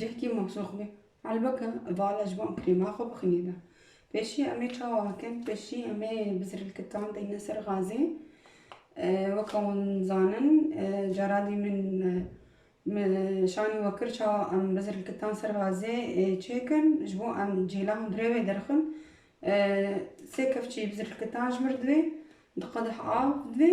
Cihkî maşoxbî helbeke vala ji van krîma xwe bixnîne. Pêşî em ê çawa bikin? Pêşî em ê bi zirilkitan deyne ser gazê. Weke wan zanin caradî min şanî we kir çawa em bi zirilkitan ser gazê çêkin ji bo em cêla hundirê wê derxin. Sê kevçî bi zirilkitan ji mir divê, di qedeh av divê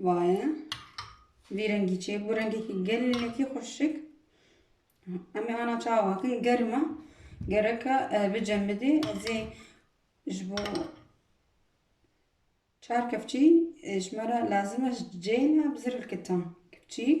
Vaye vî rengî çê bû rengekî gelekî xweşik. Em ê ana çawa kin germ e. Gereke bicemidî ez ê ji bo çar kevçî ji me re lazim e ji ceyê me bi zirl kita kevçîk.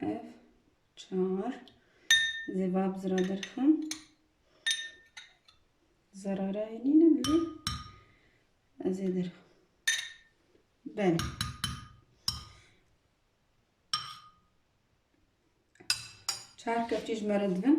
Ev çar zêbab zira derxim. Zarara yenine bile ez ê derxim. Bel. Çar kepçî ji me re dibin.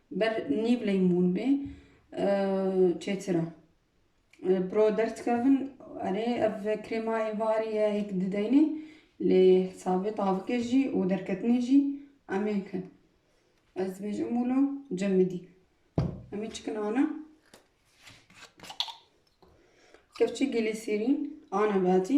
Ber nîv leymûn bê çêtir e. Bi ro derdikevin erê ev krêma êvarî ye hêk dideynê lê hesabê tavikê jî û derketinê jî em ê bikin. Ez dibêjim wilo cem bidî. Emî çikin ana. Kevçî gilîsîrîn ana batî.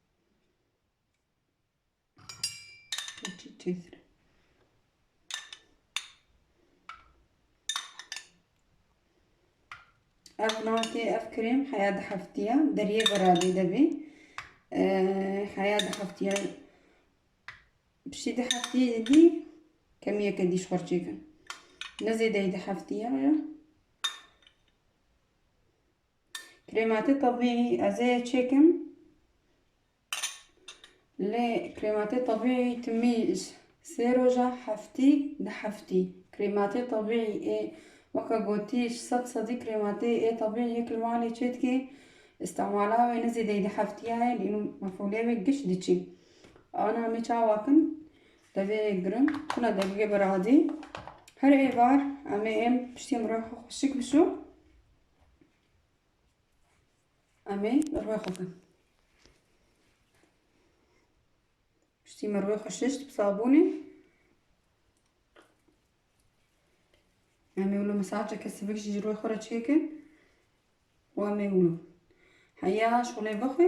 Çiçeğir. Ev nati ev krem haya di heftiya deriye berabê de bê. Haya di heftiya piştî di heftiyê didî kemiyeke dîş xwe çêkin. Ne zêdeyî di heftiya ya. Krêmatê tebîî ez ê çêkim. Lê krêmatê tebîî timî sê roja heftî di heftî. Krêmatê tebîî ê weke gotî sed sedî krêmatê ê tebîî yek li malê çê dikê. Îstemala wê ne zêdeyî di heftiya ye lê mefûlê wê giş diçê. Ana me çawa kin devê girin tune degîgê bi radî. Her êvar em ê êm piştî mirov xwe xweşik bişo. Em ê bi rûyê xwe bin. Piştî min rûyê xwe şişt bi sabûnê. Em ê wilo mesajeke sivik jî ji rûyê xwe re çêkin. Wan ê wilo. Heya şolê bixwe.